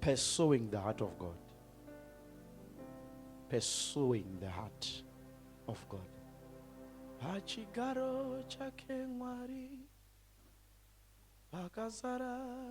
Pursuing the heart of God. Pursuing the heart of God. Pachigaro chake Mwari pakazara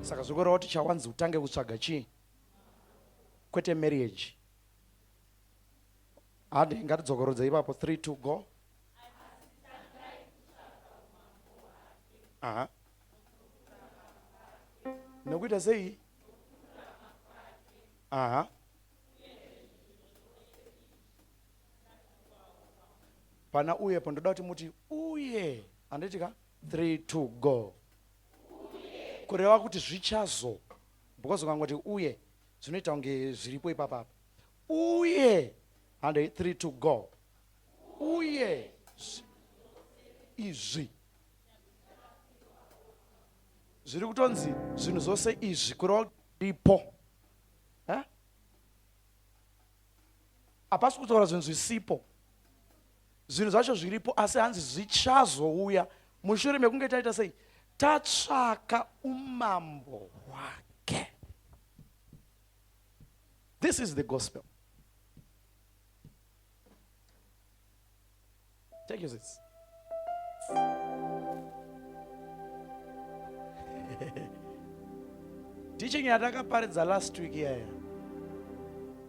saka zvokureva kuti chawanzi utange kutsvaga chii kwete marriage hande ngatidzokorodze ipapo three to go aha nokuita sei aha Pana uye po ndoda kuti muti uye. Anditi ka 3 2 go. Uye. Kureva kuti zvichazo. Because ukangoti uye zvinoita kunge zviripo ipapa. Uye. And 3 2 go. Uye. Izvi. Zviri kutonzi zvinhu zvose izvi kureva ripo. hapasi kutaura zvinhu zvisipo zvinhu zvacho zviripo asi hanzi zvichazouya mushure mekunge taita sei tatsvaka umambo hwake this is the gospel Thank you, sis. Teaching yatakaparidza last week iyaya.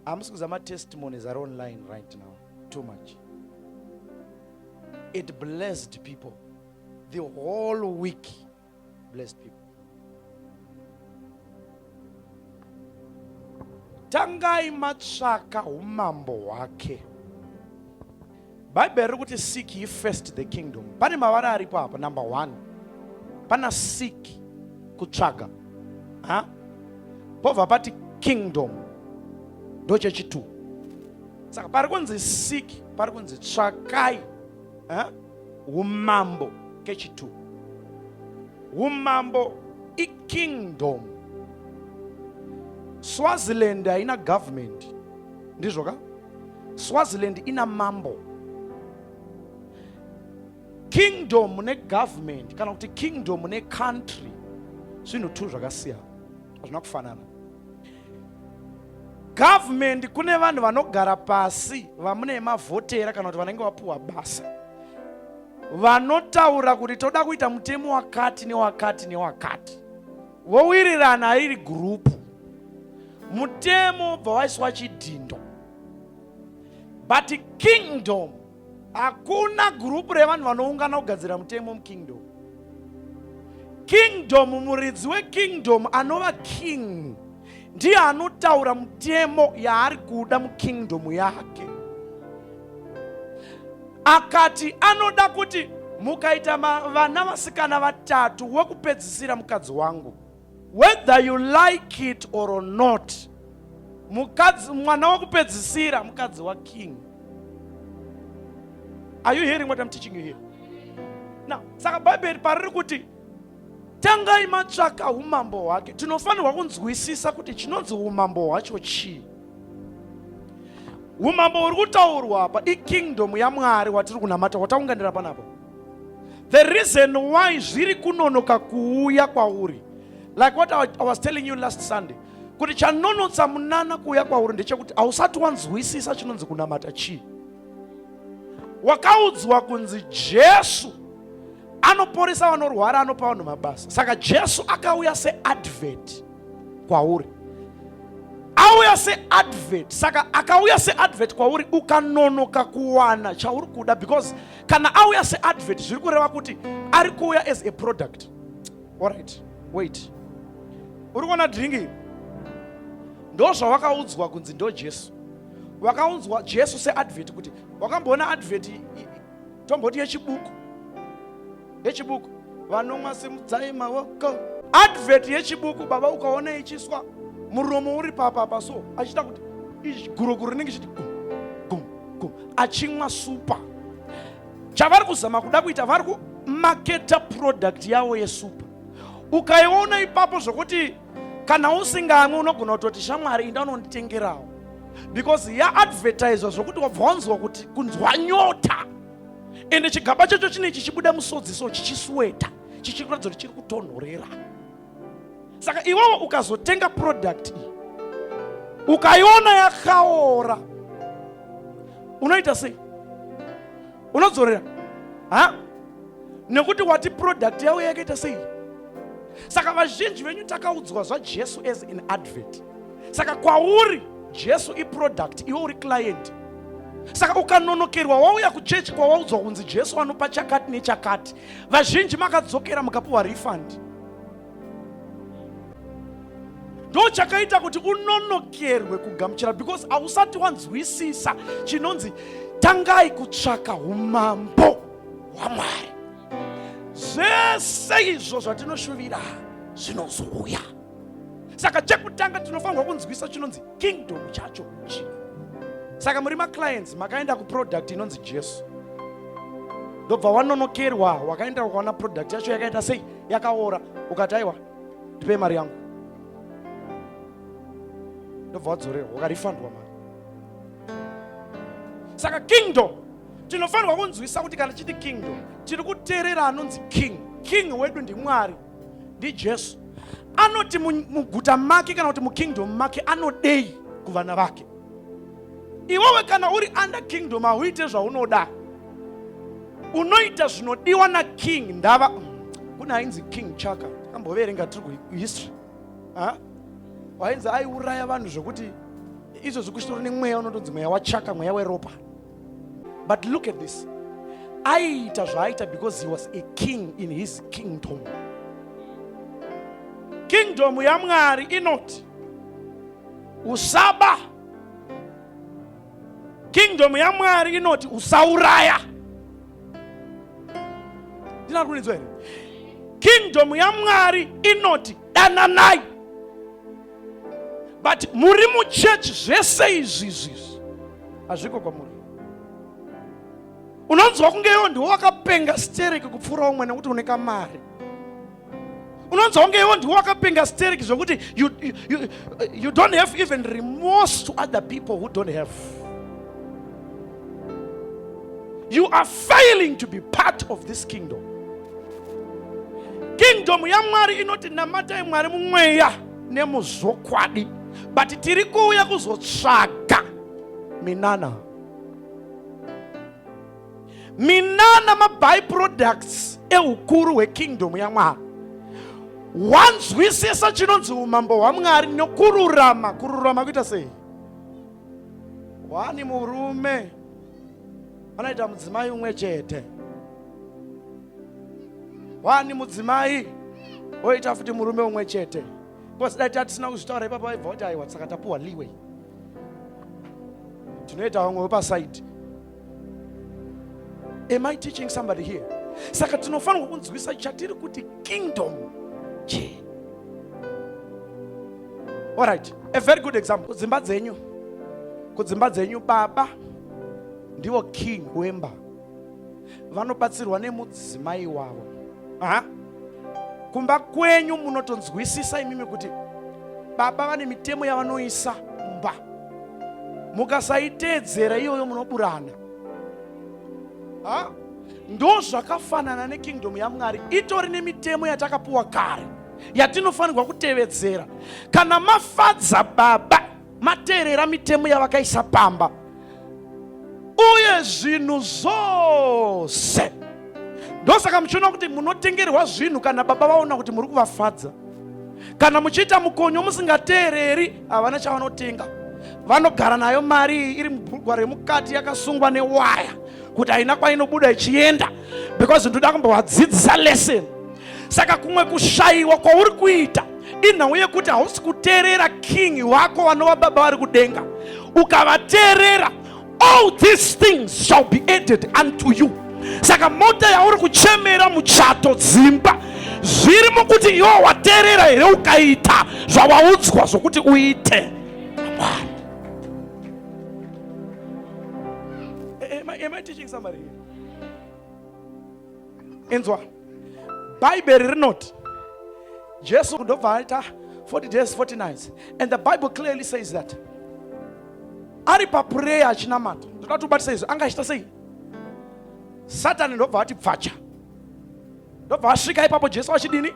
Hamusi kuziva matestimonies ari online right now. Too much. It blessed people the whole week. blessed people tangai matsvaka umambo hwake bhaibheri riri kuti seek ye first the kingdom pane mavara aripo apa number one pana seek kutsvaga ha? pobva pati kingdom ndochechitu saka pari kunzi seek pari kunzi tsvakai eh? umambo kechitu umambo ikingdom swaziland haina government ndizvo ka swaziland ina mambo kingdom negovernment kana kuti kingdom necountry zvinhu two zvakasiyana hazvina kufanana Government kune vanhu vanogara pasi vamune mavhotera kana kuti vanenge vapuwa basa vanotaura kuti toda kuita mutemo wakati newakati newakati vowirirana riri gurupu mutemo bva waiswa chidhindo but kingdom Hakuna gurupu revanhu vanoungana kugadzira mutemo mukingdom. Kingdom, muridzi wekingdom anova king ndiye anotaura mutemo yaari kuda mukingdom yake. Akati anoda kuti mukaita vana vasikana vatatu wekupedzisira mukadzi wangu whether you like it or not mukadzi mwana wakupedzisira mukadzi waking are you hearing what i'm teaching you here now saka bhaibheri pariri kuti tangai matsvaka umambo hwake tinofanirwa kunzwisisa kuti chinonzi umambo hwacho chii umambo huri kutaurwa apa ikingdom yamwari watiri kunamata wataunganira panapa The reason why zviri kunonoka kuuya kwauri like what I was telling you last Sunday kuti chanonotsa munana kuuya kwauri ndechekuti hausati wanzwisisa chinonzi kunamata chii wakaudzwa kunzi jesu anoporesa vanorwara anopa vanhu mabasa saka jesu akauya seadvert kwauri auya seadvert saka akauya seadvert kwauri ukanonoka kuwana chauri kuda because kana auya seadvert zviri kureva kuti ari kuuya as a product alright wait uri kuona drink iyi ndo zvawakaudzwa kunzi ndo jesu wakaunzwa jesu seadvert kuti wakamboona advert tomboti yechibuku yechibuku vanomwa simudzai maoko advert yechibuku baba ukaona ichiswa muromo uri papapa so achiita kuti guroguro rinenge chiti gum gum achimwa supa chavari kuzama kuda kuita vari kumaketa product yavo yesupa ukaiona ipapo zvokuti kana usingamwe unogona kutoti shamwari inda unonditengerawo because yaadvertiswa zvokuti wabva wanzwa kuti kunzwa nyota ende chigaba chacho chine chichibuda musodzi so chichisweta chichikuratidza kuti chiri kutonhorera saka iwewo ukazotenga product iyi ukaiona yakaora unoita sei unodzorera ha nekuti wati product yavo yakaita sei saka vazhinji venyu takaudzwa zvajesu as an advert saka kwauri jesu iproduct iwe uri client saka ukanonokerwa wauya kuchechi kwawaudzwa kunzi jesu anopa chakati nechakati vazhinji makadzokera mukapiwa refund ndo chakaita kuti unonokerwe kugamuchira because hausati wanzwisisa chinonzi tangai kutsvaka umambo hwamwari zvese izvo zvatinoshuvira zvinozouya saka chekutanga tinofanirwa kunzwisa chinonzi kingdom chacho chii saka muri maclients makaenda kuproduct inonzi jesu ndobva wanonokerwa wakaenda ukaona product yacho yakaita sei yakaora ukati aiwa ndipe mari yangu ndobva wadzorerwa ukarifandwa mari saka kingdom tinofanirwa kunzwisa kuti kana chiti kingdom tiri kuteerera anonzi king king wedu ndimwari ndijesu anoti muguta make kana kuti mukingdom make anodei kuvana vake iwewe kana uri under kingdom hauite zvaunoda unoita zvinodiwa naking ndava kune ainzi king chaka kamboverenga tiri kuhistory wainzi aiuraya vanhu zvekuti izvo zvekuchitori nemweya unotonzi mweya wachaka mweya weropa but look at this aiita zvaaita because he was a king in his kingdom kingdom yamwari inoti usaba kingdom yamwari inoti usauraya ndinakunitswa here kingdom yamwari inoti dananai but muri muchechi zvese izvi izvizvi hazviko kwamuri unonzwa kunge iwo ndiwo wakapenga stereki kupfuura umwe nekuti une kamari unonzwa kunge iwo ndiwo wakapenga stereki zvekuti you, you, you, you don't have even remorse to other people who don't have you are failing to be part of this kingdom kingdom yamwari inoti namatai mwari mumweya nemuzvokwadi but tiri kuuya kuzotsvaga minana minana mabyproducts eukuru hwekingdom yamwari wanzwisisa chinonzi umambo hwamwari nokururama kururama kuita sei wani murume vanoita mudzimai umwe chete wani mudzimai oita futi murume umwe chete because dai tatisina kuzvitaura ipapa vaibva kuti aiwa saka tapuwa leeway tinoita vamwe wepasaidi Am I teaching somebody here? Saka tinofanirwa kunzwisa chatiri kuti kingdom chii. All right, a very good example. Kudzimba dzenyu, kudzimba dzenyu baba ndivo king wemba, vanobatsirwa nemudzimai wavo. Aha. kumba kwenyu munotonzwisisa imimi kuti baba vane mitemo yavanoisa mumba mukasaiteedzera iyoyo munoburana ndo zvakafanana nekingdom yamwari itori nemitemo yatakapuwa kare yatinofanirwa kutevedzera kana mafadza baba mateerera mitemo yavakaisa pamba uye zvinhu zvose ndosaka muchiona kuti munotengerwa zvinhu kana baba vaona kuti muri kuvafadza kana muchiita mukonyo musingateereri havana chavanotenga vanogara nayo mari iri mubhurugwa remukati yakasungwa newaya kuti haina kwainobuda ichienda because ndoda kumbovadzidzisa lesson saka kumwe kushaiwa kwauri kuita inhau yekuti hausi kuteerera king wako vanova baba vari kudenga ukavateerera all these things shall be added unto you saka mota yauri kuchemera muchato dzimba zviri mukuti iwo wateerera here ukaita zvawaudzwa zvokuti uite mwari Am I, am I teaching somebody here? Inzwa. Bible rinoti Jesu ndobva aita 40 days 40 nights and the Bible clearly says that ari papureya achinamata ndoda kuti ubatisa izvi anga achita sei satani ndobva ati pfacha ndobva asvika ipapo jesu achidini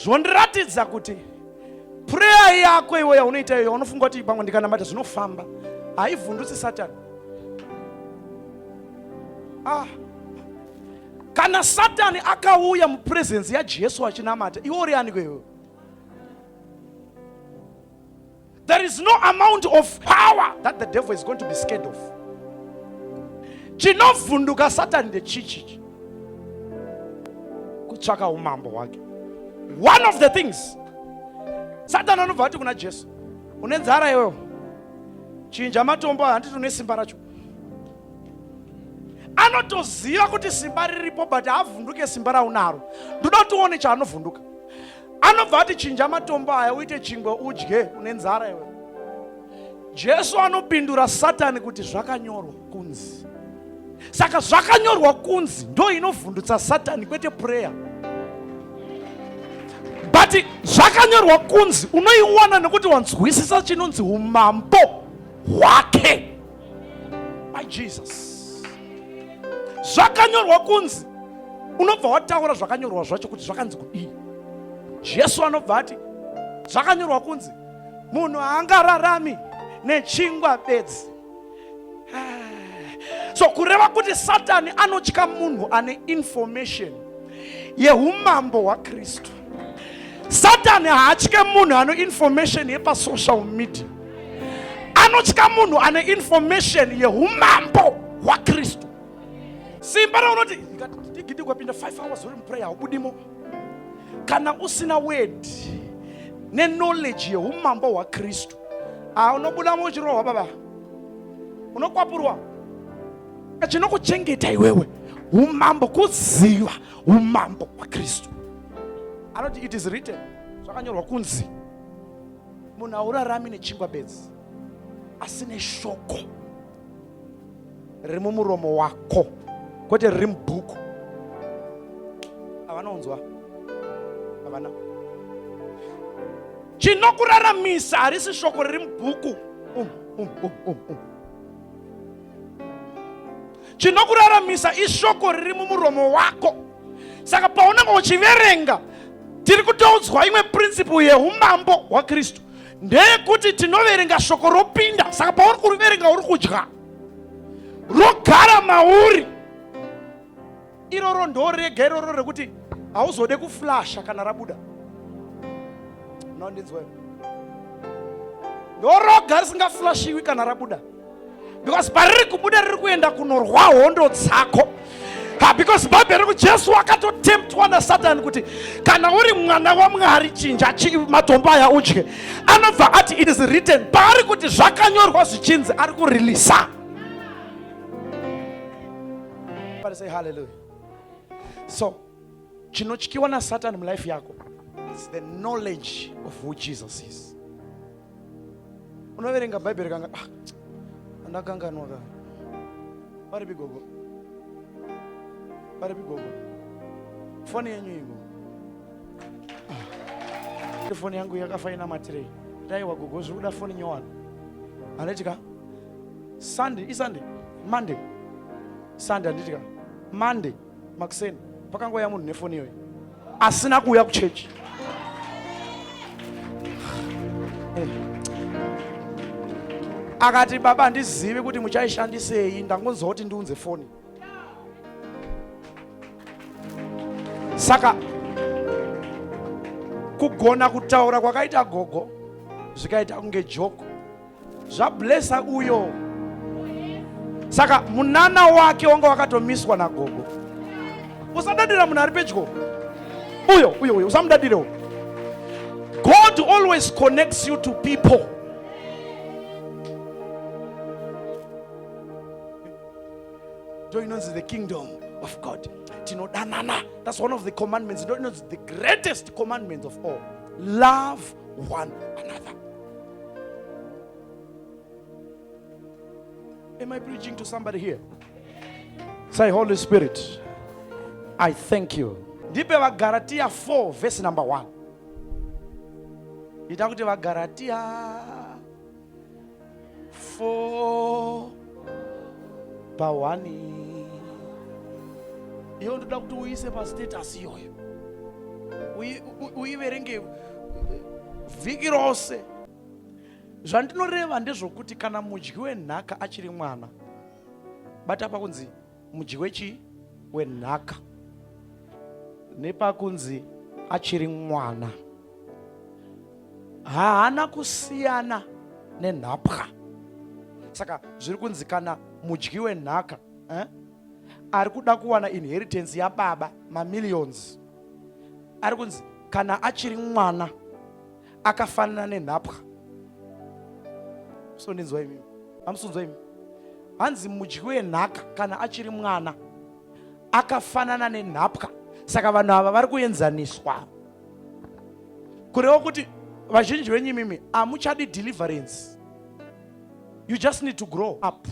zvondiratidza kuti prayer yako iwe yaunoita iyo unofunga kuti pamwe ndikanamata zvinofamba haivhundutsi satani ah. kana satani akauya mupresence yajesu achinamata iwe uri aniko iwewe There is no amount of power that the devil is going to be scared of. Chinovhunduka Satan ndechichi kutsvaka umambo hwake. One of the things Satan anobva ati kuna Jesu, une nzara iwewe, chinja matombo handiti une simba racho. Anotoziva kuti simba riripo but havhunduke simba raunaro. Ndoda kuti uone chaanovhunduka. anobva ati chinja matombo aya uite chingwa udye une nzara iwe jesu anopindura satani kuti zvakanyorwa kunzi saka zvakanyorwa kunzi ndo inovhundutsa satani kwete pureya but zvakanyorwa kunzi unoiwana nekuti wanzwisisa chinonzi umambo hwake by jesus zvakanyorwa kunzi unobva wataura zvakanyorwa zvacho kuti zvakanzi kudii jesu anobva ati zvakanyorwa kunzi munhu haangararami nechingwa bedzi so kureva kuti satani anotya munhu ane information yeumambo hwakristu satani haatye munhu ano information yepasocial media anotya munhu ane information yeumambo hwakristu simba raunoti digidi ukapinda 5 hours uri muprayer haubudimo kana usina word neknowledge yeumambo hwakristu ah, unobudamo uchirohwa baba unokwapurwa chinokuchengeta iwewe umambo kuziva umambo hwakristu anoti it is written zvakanyorwa kunzi munhu haurarami nechingwa bedzi asi neshoko riri mumuromo wako kwete riri mubhuku havana unzwa havana chinokuraramisa harisi shoko riri mubhuku um, um, um, um, um. Chinokuraramisa ishoko riri mumuromo wako. Saka paunenge uchiverenga, tiri kutoudzwa imwe principle yeumambo hwaKristu ndeyekuti tinoverenga shoko ropinda. Saka pauri kuriverenga uri kudya, rogara mauri. iroro ndorega iroro rekuti hauzode kuflasha kana rabuda nondinzwa ndoroga risingaflashiwi kana rabuda because pariri kubuda riri kuenda kunorwa hondo dzako ha because bhaibheri riri kuti jesu akatotemptwa nasatani kuti kana uri mwana wamwari chinja matombo aya udye anobva ati it is written paari kuti zvakanyorwa zvichinzi ari kureleasa Everybody say hallelujah. So, chinotyiwa na Satan mu life yako is the knowledge of who Jesus is. Unoverenga Bible kanga ah, ndakanganwa ka. Pari bigogo. Pari bigogo. Foni yenyu iko. Ah. Foni yangu yakafa ina matirei. Dai wagogo zvikuda foni nyowani. Aneti ka sunday isunday monday sunday handiti ka monday makuseni pakangouya munhu nefoni iyoyo asina kuuya kuchechi akati baba handizivi kuti muchaishandisei ndangonzwa kuti ndiunze foni saka kugona kutaura kwakaita gogo zvikaita kunge joko zvablesa uyo saka munana wake wanga wakatomiswa nagogo usadadira munhu ari pedyo uyo uyo uyo usamudadirewo god always connects you to people ndo inonzi the kingdom of god tinodanana that's one of the commandments ndo inonzi the greatest commandments of all love one another Am I preaching to somebody here? Say, Holy Spirit, I thank you. Ndipe Vagalatia 4 verse number 1. Ita kuti Vagalatia 4 pahwani iyo ndoda kuti uise pastatus iyoyo uiverenge vhiki rose zvandinoreva ndezvokuti kana mudyi wenhaka achiri mwana bata pakunzi mudyi wechi wenhaka nepakunzi achiri mwana haana kusiyana nenhapwa saka zviri kunzi kana mudyi wenhaka eh? ari kuda kuwana inheritance yababa mamillions ari kunzi kana achiri mwana akafanana nenhapwa musondinzwa imimi amusunzwa imimi hanzi mudyi wenhaka kana achiri mwana akafanana nenhapwa saka vanhu ava vari kuenzaniswa kureva kuti vazhinji venyu imimi amuchadi deliverance you just need to grow up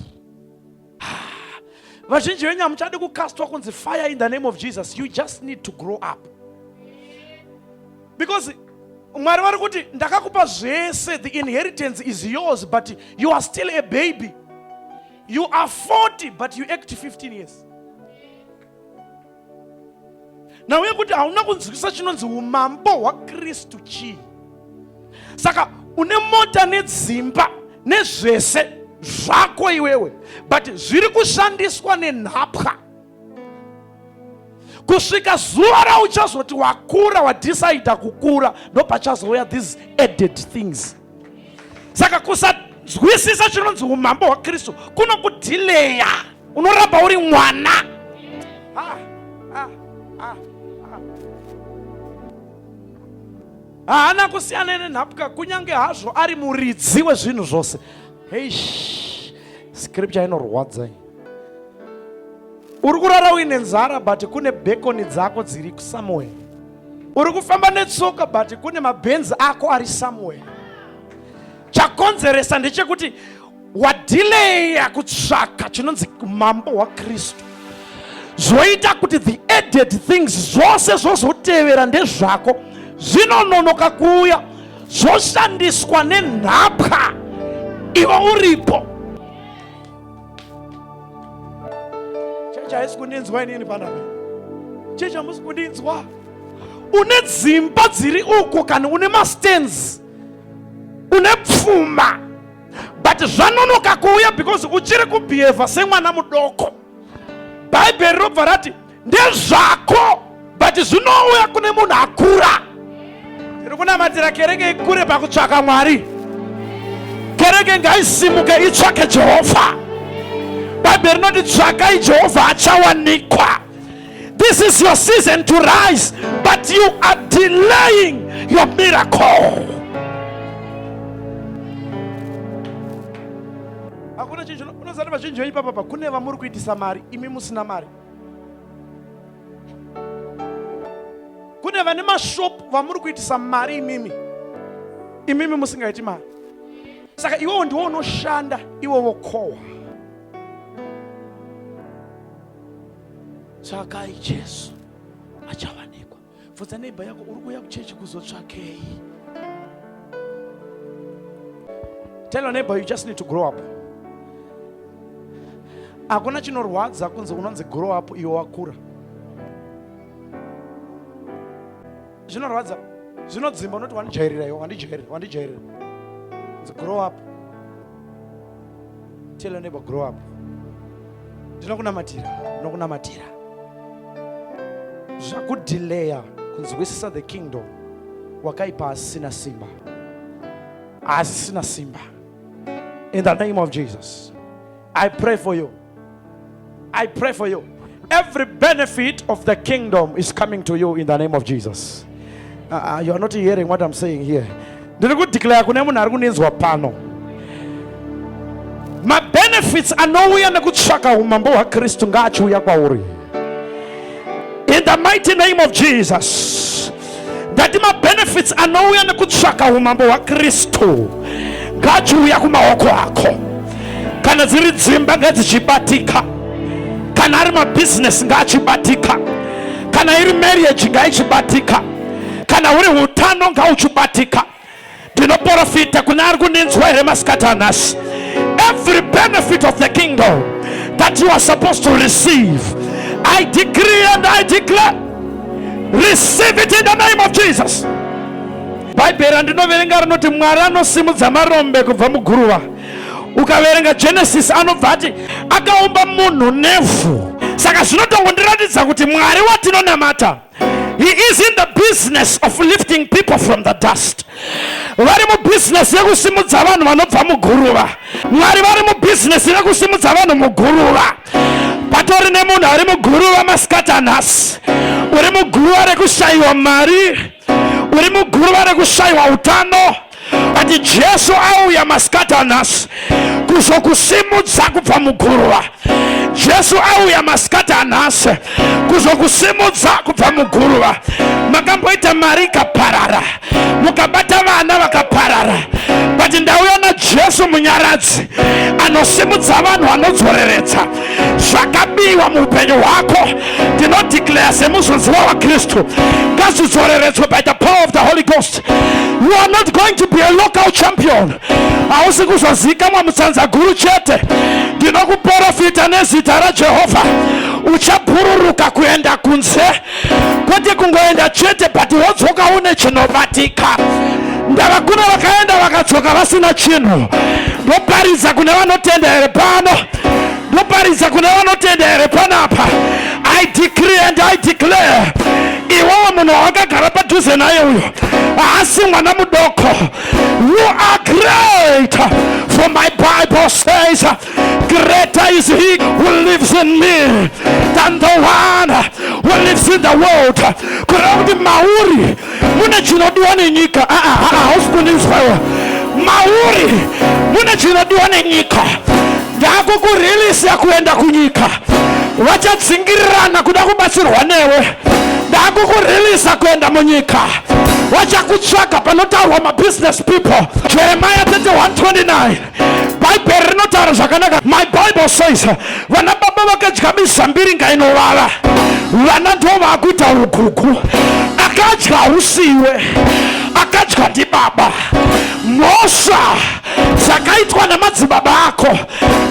vazhinji venyu hamuchadi kukastwa kunzi fire in the name of jesus you just need to grow up because mwari vari kuti ndakakupa zvese the inheritance is yours but you are still a baby you are 40 but you act 15 years nauye kuti hauna kunzwisa chinonzi umambo hwakristu chii saka une mota nedzimba nezvese zvako iwewe but zviri kushandiswa nenhapwa kusvika zuva rauchazoti wakura wadhisaidha kukura ndopachazouya these added things saka kusanzwisisa chinonzi umambo hwakristu kunokudhileya unoramba uri mwana ah, ah, ah, haana kusiyana nenhapwa kunyange hazvo ari muridzi wezvinhu zvose hei scripture inorwadza iyi uri kurara uine nzara but kune bekoni dzako dziri somewhere uri kufamba netsoka but kune mabhenzi ako ari somewhere chakonzeresa ndechekuti wadhileya kutsvaka chinonzi umambo hwakristu zvoita kuti the added things zvose zvozotevera ndezvako zvinononoka kuuya zvoshandiswa nenhapwa ivo uripo Checha haisi kundinzwa inini panapa. Checha musi kundinzwa. Une dzimba dziri uko kana une mastands. Une pfuma. But zvanonoka kuuya because uchiri kubehave semwana mudoko. Bhaibheri robva rati ndezvako but zvinouya kune munhu akura tiri kunamatira kereke ikure pakutsvaka mwari kereke ngaisimuke itsvake jehovha bhaibheri rinoti tsvakai jehovha achawanikwa this is your season to rise but you are delaying your miracle hakuna chinhu unozati vazhinji venyu papapa kune vamuri kuitisa mari imi musina mari kune vane mashopu vamuri kuitisa mari imimi imimi musingaiti mari saka iwewo ndiwo unoshanda iwe wokohwa tsvakai jesu achawanikwa bvunza neighbor yako uri kuuya kuchechi kuzotsvakei tell your neighbor you just need to grow up hakuna chinorwadza kunzi unonzi grow up iwe wakura zvinorwadza zvinodzimba unoti wandijairira iwe wandijairira wandijairira grow up Tell your neighbor, grow up. Ndinokunamatira, ndinokunamatira. Zvakudileya kunzwisisa the kingdom wakaipa asina simba. Asina simba. In the name of Jesus. I pray for you. I pray for you. Every benefit of the kingdom is coming to you in the name of Jesus. Uh, uh you are not hearing what I'm saying here. ndiri kudeclare kune munhu ari kuninzwa pano mabenefits anouya nekutsvaka umambo hwakristu ngaachiuya kwauri in the mighty name of jesus ndati mabenefits anouya nekutsvaka umambo hwakristu ngachiuya kumaoko ako kana dziri dzimba ngadzichibatika kana ari mabhizinesi ngaachibatika kana iri marriage ngaichibatika kana uri utano ngauchibatika ndinoporofita kuna ari kundinzwa here masikati anhasi every benefit of the kingdom that you are supposed to receive i decree and i declare receive it in the name of jesus bhaibheri randinoverenga rinoti mwari anosimudza marombe kubva muguruva ukaverenga genesis anobva ati akaumba munhu nevhu saka zvinotongondiratidza kuti mwari watinonamata He is in the business of lifting people from the dust. Vari mubusiness yekusimudza vanhu vanobva muguruva. Mwari vari mubusiness yekusimudza vanhu muguruva. Patori nemunhu ari muguruva masikati anhasi. Uri muguruva rekushayiwa mari. Uri muguruva rekushayiwa utano. ati jesu auya masikati anhasi kuzokusimudza kubva muguruva jesu auya masikati anhasi kuzokusimudza kubva muguruva makamboita mari ikaparara mukabata vana vakaparara but ndauya najesu munyaradzi anosimudza vanhu vanodzoreredza zvakabiwa muupenyu hwako ndinodeclare semuzunzi wavakristu ngazvidzoreredzwe by the power of the holy ghost you are not going to be a local champion hausi kuzozikamwa mutsanza guru chete ndinokuporofita nezita rajehovha uchabhururuka kuenda kunze kwete kungoenda chete but wodzoka une chinobatika ndava kuno vakaenda vakadzoka vasina chinhu ndoparidza kune vanotenda here pano ndoparidza kune vanotenda here panapa i decree and i declare iwewe munhu wawakagara padhuze naye uyo haasi mwana mudoko you are great for my bible says greater is he who lives in me than the one who lives in the world kureva kuti mauri mune chinodiwa nenyika ah, ah, ah, hausi kundinzwaiwa mauri mune chinodiwa nenyika ndakukurilisa kuenda kunyika vachadzingirirana kuda kubatsirwa newe ndakukurilisa kuenda munyika vachakutsvaga panotaurwa mabusiness people jeremiya 3129 bhaibheri rinotaura zvakanaka my bible says vana baba vakadya mizambiringa inovava vana ndo vakuita ugugu akadya hausiwe akadya ndibaba mhosva dzakaitwa nemadzibaba ako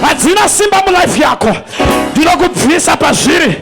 hadzina simba mulife yako ndinokubvisa pazviri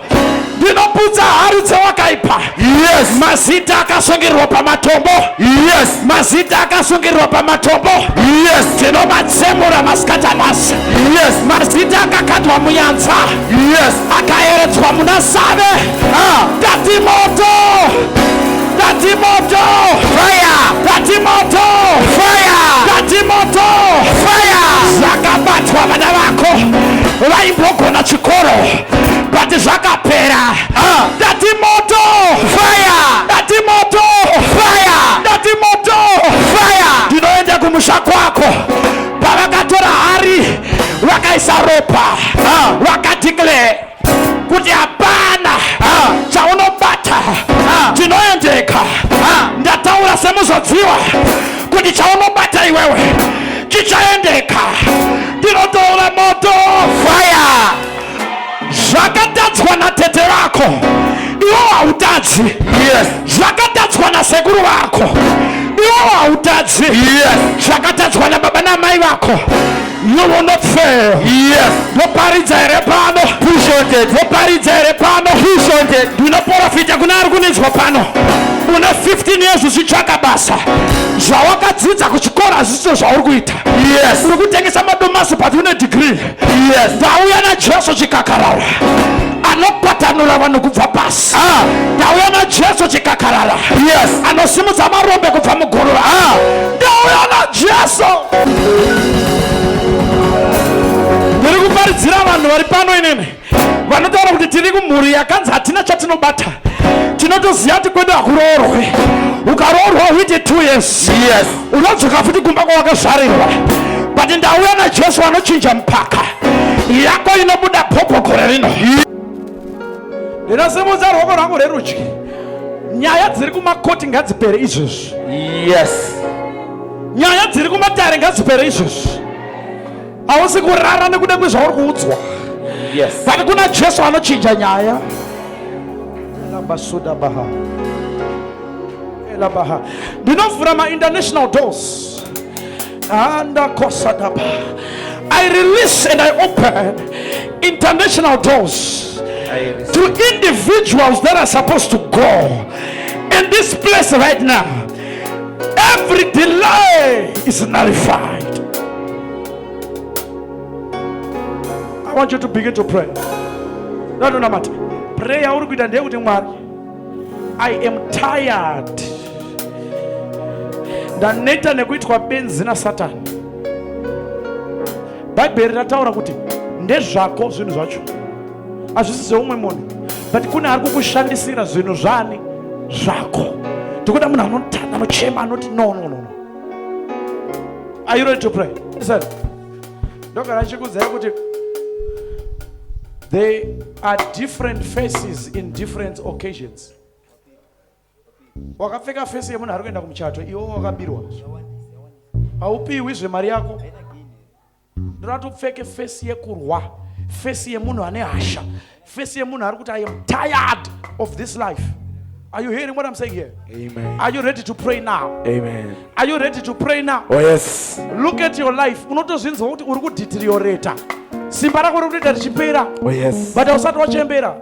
ndinoputsa hari dzewakaipa yes mazita akasungirirwa pamatombo yes mazita akasungirirwa pamatombo yes ndinomatsemura masikati anhasi yes mazita akakandwa munyanza yes akayeredzwa muna save ah. ndati moto ndati moto fire ndati moto fire ndati moto fire zvakabatwa vana vako vaimbogona chikoro but zvakapera ah. ndati moto fire ndati moto fire ndati moto fire ndinoenda kumusha kwako pavakatora hari vakaisa ropa ah. vakadeclare kuti hapana ah. chaunobata chinoendeka ndataura semuzodziwa kuti chaunobata iwewe chichaendeka ndinotaura moto fire zvakatadzwa natete vako iwo hautadzi zvakatadzwa nasekuru vako iwo hautadzi zvakatadzwa nababa namai vako you will not fail yes voparidza here pano voparidza here pano ndinoprofita kuna ari kunenzwa pano une 15 years uchitsvaka basa zvawakadzidza kuchikoro hazvisicho zvauri kuita yes uri kutengesa madomasi but une degree yes. ndauya najesu chikakarara anopatanura vanhu kubva pasi ah. ndauya najesu chikakarara yes. anosimudza marombe kubva mugorora ah. ndauya najesu ndiri kuparidzira vanhu vari pano inini vanotaura kuti tiri kumhuri yakanzi hatina chatinobata tinotoziva kuti kwedu hakuroorwe ukaroorwa uite two years yes. unodzoka futi kumba kwawakazvarirwa but ndauya najesu vanochinja mupaka yako inobuda popo gore rino ndinosimudza ruoko rwangu rerudyi nyaya dziri kumakoti ngadzipere izvozvi yes nyaya dziri kumatare ngadzipere izvozvi hausi kurara nekuda kwezvauri kuudzwa vati kuna jesu anochinja nyaya ndinovhura mainternational dos andakosadaba i release and i open international dos to individuals that are supposed to go in this place right now Every delay is nullified. I want you to begin to pray. No, no, no, matter. Prayer yauri kuita ndeyekuti Mwari, I am tired. Ndaneta nekuitwa benzi naSatani. Bhaibheri rataura kuti ndezvako zvinhu zvacho. hazvisi zveumwe munhu but kune ari kukushandisira zvinhu zvani zvako tikuda munhu anotanda anochema anoti no no no are you ready to pray listen ndogara chikudzai kuti there are different faces in different occasions wakapfeka fesi yemunhu ari kuenda kumuchato iwo wakabirwa haupiwi zvemari yako Ndinoda upfeke face yekurwa, face yemunhu ane hasha, face yemunhu ari kuti I am tired of this life. Are you hearing what I'm saying here? Amen. Are you ready to pray now? Amen. Are you ready to pray now? Oh yes. Look at your life. Unotozvinzwa kuti uri kudeteriorate. Simba rako riri kuita richipera. Oh yes. But hausati wachembera.